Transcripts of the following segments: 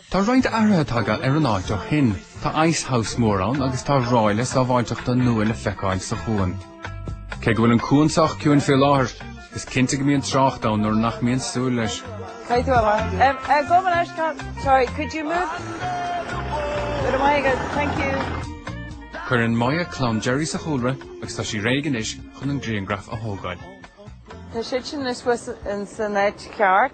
Tá roinnt athruithe tagtha ar an áit ó shin. Tá ice house mór ann agus tá ráille sábháilteachta nua le feiceáil sa chuan. Cé go bhfuil an cuan sách ciúin fé láthair, is cinnte go mbíonn trácht ann nuair nach mbíonn súil leis. Caithfidh tú a leath. Em, eh, go mba leis gan- Sorry, could you move? Go raibh maith agat, thank you. Cuireann Moya clann Jerry sa chúlra agus tá sí réidh anois chun an grianghraf a thógáil. Tá siad sin anois fós in- san áit cheart.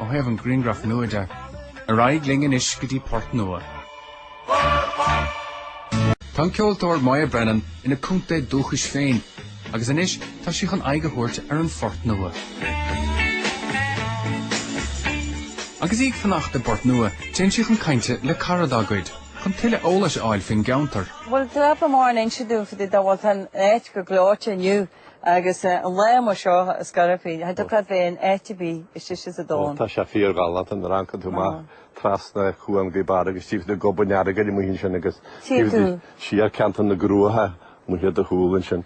Ó thaobh an grianghraf nua de. Ar aghaidh linn anois go dtí Port Nua. Tá an ceoltóir Moya Brennan ina contae dúchais féin agus anois tá sí chun aghaidh a thabhairt ar an Phort Nua. Agus í ag fanacht i bPort Nua, téann sí chun cainte le cara dá gcuid chun tuilleadh eolais a fháil faoin gceantar. Bhuel, d'fhreagair Máirín inste dúinn faoi dá bhfuil an áit go gleoite inniu. Agus eh an lae amuigh seo a scaradh féin, eh do cad féin áit ar bith is deise sa domhan. Ó tá sé fíorghalánta nuair a amharcann tú amach trasna Cuan Ghaoth Beara agus tchí tú go barr an Earagail amuigh ansin agus taobh de siar ceantar na gCruach amuigh ar do chúl ansin.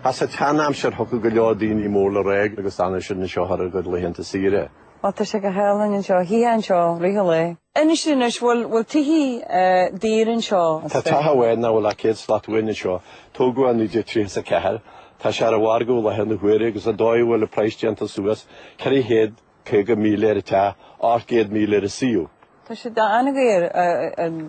Sa tseanaimsir thiocfadh go leor daoine mór le rá agus d'fhanadh siad anseo thar a gcuid laethanta saoire. Má tá sé go hálainn anseo, thíos anseo, really. Inis anois, bhfuil, bhfuil tithe daor anseo, is Tá féidir. teach amháin nach bhfuil ach céad slat uainn anseo. Tógadh i 1934. Tá sé ar an mhargadh i láthair na huaire agus an dóigh a bhfuil an praghas déanta suas, 450,000 ar an teach, 800,000 ar an suíomh. Tá sé an-daor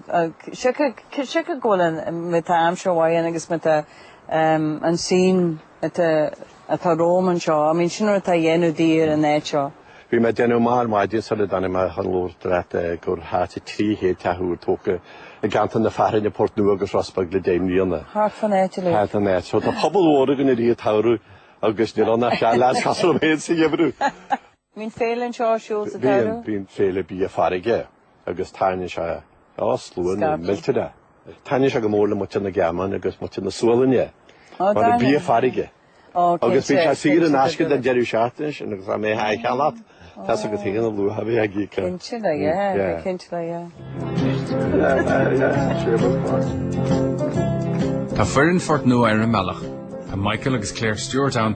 ach siocair go bhfuil an miotal aimsire mhaith ann agus miotal an scene atá romham anseo, I mean sin rud atá ag déanamh daor an áit seo. Bhí mé ag déanamh amach ar maidin sula dtáinig mé chun labhairt leat gur thart ar 300 teach úr tógtha i gceantar na Fearthainne, Port Nua agus Ros Beag le deich mbliana. Thart fan áit uilig. Thart fan áit. Tá pobal mhór againn i rith an tsamhraidh agus níl ann ach seal as cúpla céad sa gheimhreadh. Bíonn féile anseo ar siúl sa tsamhradh. Bíonn féile bia farraige agus tarraingíonn sé slua millteanach. Taitníonn sé go mór le muintir na Gearmáine agus muintir na Sualainne mar bíonn bia farraige agus bíonn sé saor in aisce don deireadh seachtaine sin agus tá mé ag ceann agat, tá sé go haon a luaithe a bhí ag íoc. Cinnte le Dia, yeah, cinnte le Dia. Tá foireann Phort Nua ar an mbealach. Tá Michael agus Claire Stewart ann.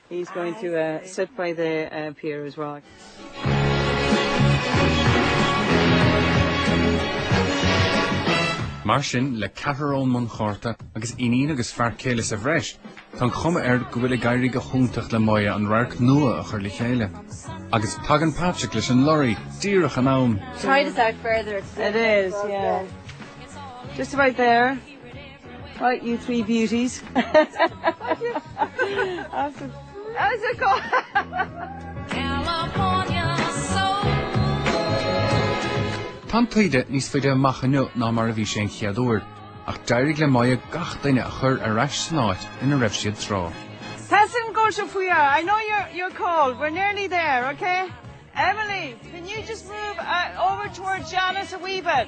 He's going to sit by the pier as well. Mar sin, le ceathrar ón mbunchárta agus iníon agus fear céile sa bhreis, tá an chuma air go bhfuil ag éirí go hiontach le Moya an radharc nua a chur le chéile. Agus tagann Patrick leis an lorry, díreach in am! Try this out further, it's a bit difficult, yeah. It is, yeah. Just about there. Right you three beauties Tá an taoide níos faide amach inniu ná mar a bhí sé an chéad uair, ach d'éirigh le Moya gach duine a chur ar ais san áit ina raibh siad tráth. Pass an ghol seo faoi I know you're you're cold, we're nearly there, ok? Emily, can you just move over towards Janice a wee bit?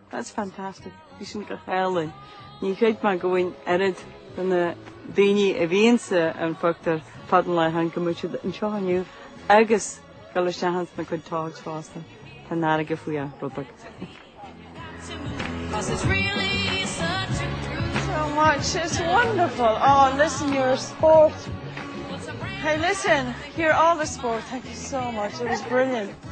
That's fantastic. Bhí sin go hálainn. Ní chreid mé go bhfuil an oiread de na daoine a bhí insan phioctúr fad an lae tháinig muid anseo inniu agus go bhfuil siad insna cuid togs fosta tá an fharraige faoi a' rubag. Cos it's really such a cruel so much it's wonderful oh listen you're a sport hey listen here all the sport thank you so much it was brilliant